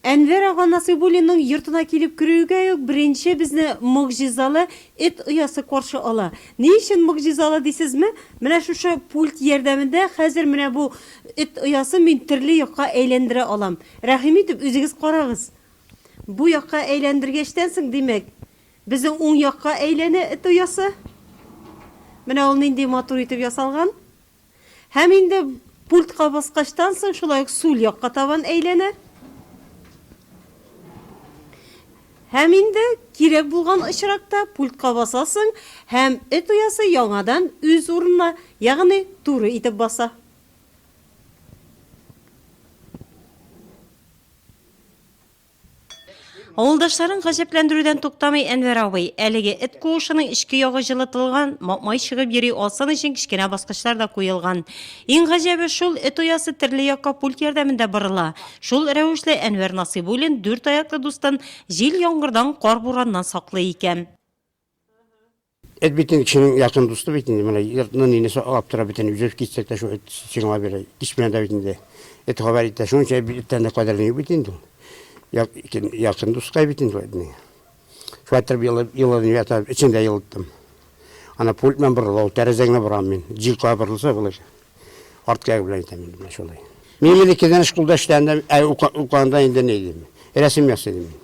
Әнвәр ага Насыйбуллинның йортына килеп керүгә үк беренче безне могҗизалы эт оясы каршы ала. Ни өчен могҗизалы дисезме? Менә шушы пульт ярдәмендә хәзер менә бу эт оясын мин төрле якка әйләндерә алам. Рәхим итеп, үзегез карагыз. Бу якка әйләндергәчтән соң, димәк, безнең уң якка әйләнә эт оясы. Менә ул нинди матур итеп ясалган. Һәм инде пультка баскачтан соң шулай ук сул якка табан әйләнә. Һәм инде кирәк булган очракта пультка басасың һәм эт оясы яңадан үз урынына, ягъни туры итеп баса. Авылдашларын гаҗәпләндерүдән туктамый Әнвәр абый. Әлеге эт куышының эчке ягы җылытылган, мак-май чыгып йөри алсын өчен кечкенә баскычлар да куелган. Иң гаҗәбе шул, эт оясы төрле якка пульт ярдәмендә борыла. Шул рәвешле Әнвәр Насыйбуллин дүрт аяклы дустын җил-яңгырдан, кар-бураннан саклый икән. Эт бит инде кешенең якын дусты бит инде. Менә йортны нине саклап тора бит инде. Үзебез китсәк тә шул эт сиңлап йөри. Кичмә дә бит инде. Эт хәбәр итә. Шуның өчен бит эттән дә кадерле юк бит инде ул. Як, кем- якын дускай бит инде ул этнең. Шулай итеп елы- елын ята, эчен дә елыттым. Ана пульт белән борыла ул, тәрәзә генә борам мин. Җил кая борылса болай. Арт кәге белән әйтәм инде менә шулай. Мин мин икедән шкулда эшләгәндә, ә ука- укыганда инде ни дим, рәсем ясыйдым мин.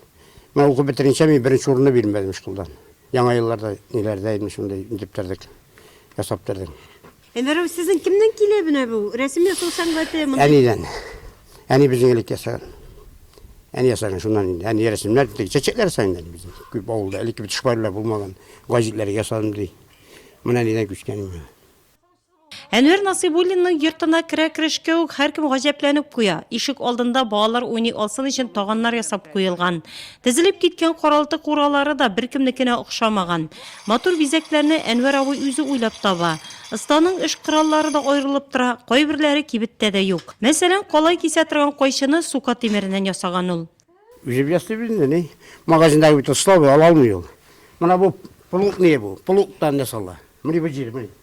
Менә укып бетеренчә мин беренче урынны бирмәдем шкулдан. Яңа елларда ниләрдә инде шундый итеп тордык, ясап тордык. Әнвәр абый, сезнең кемнән килә менә бу рәсем ясау сәнгате? Мондый- Әнидән. Әни безнең элек ясаган. Әни ясаган шуннан инде. Әни рәсемнәр, теге чәчәкләр ясаган инде әни безнең. Күп авылда элекке бит шпайлар булмаган, гәҗитләр ясадым ди. Менә әнидән күчкән инде. Әнвәр Насыйбуллинның йортына керә-керешкә үк һәркем гаҗәпләнеп куя. Ишек алдында балалар уйный алсын өчен таганнар ясап куелган. Тезелеп киткән каралты куралары да беркемнекенә охшамаган. Матур бизәкләрне Әнвәр абый үзе уйлап таба. Останың эш кораллары да аерылып тора, кайберләре кибеттә дә юк. Мәсәлән, калай кисә торган кайчыны сука тимереннән ясаган ул. Үзем ясыйм инде, ни. Магазинда кебек оста ала алмый ул. Менә бу плугнее бу, плугтан ясала. Менә бу җир, менә.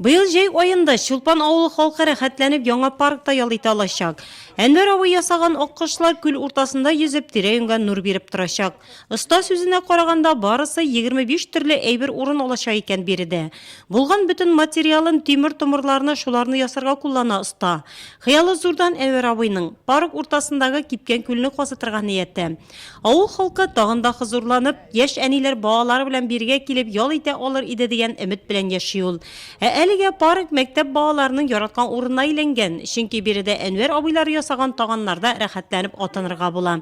Быел җәй аенда Чулпан авылы халкы рәхәтләнеп яңа паркта ял итә алачак. Әнвәр абый ясаган аккошлар күл уртасында йөзеп, тирә-юньгә нур биреп торачак. Оста сүзенә караганда, барысы егерме биш төрле әйбер урын алачак икән биредә. Булган бөтен материалын, тимер-томырларны, шуларны ясарга куллана оста. Хыялы зурдан Әнвәр абыйның. Парк уртасындагы кипкән күлне казытырга нияте. Авыл халкы тагын да хозурланып, яшь әниләр балалары белән биргә килеп ял итә алыр иде дигән өмет белән яши ул. Ә әлегә парк мәктәп балаларының яраткан урынына әйләнгән, чөнки биредә Әнвәр абыйлары ясаган таганнарда рәхәтләнеп атынырга була.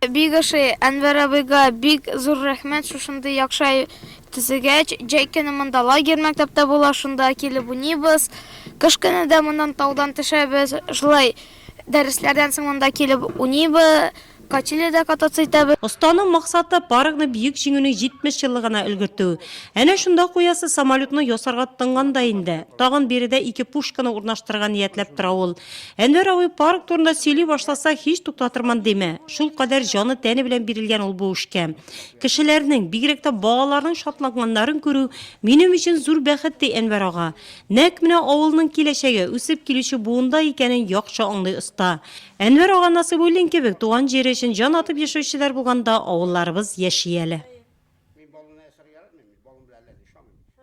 Бик ошый. Әнвәр абыйга бик зур рәхмәт шушындый яхшы әйбер төзегәч. Җәй көне монда лагерь мәктәптә була, шунда килеп уйныйбыз. Кыш көне дә моннан таудан төшәбез. Шулай Дәресләрдән соң монда килеп уйныйбыз, качелиядә кататься итәбез. Останың максаты, паркны Бөек Җиңүнең 70 еллыгына өлгертү. Әнә шунда куясы самолетны ясарга тынган да инде. Тагын биредә ике пушканы урнаштырырга ниятләп тора ул. Әнвәр абый парк турында сөйли башласа, һич туктатырмын димә. Шулкадәр җаны-тәне белән бирелгән ул бу эшкә. Кешеләрнең, бигрәк тә балаларның шатланганнарын күрү, минем өчен зур бәхет, ди Әнвәр ага. Нәкъ менә авылның киләчәге, үсеп килүче буында икәнен яхшы аңлый оста. Әнвәр ага Насыйбуллин кебек туган җире өчен җан атып яшәүчеләр булганда авылларыбыз яши әле.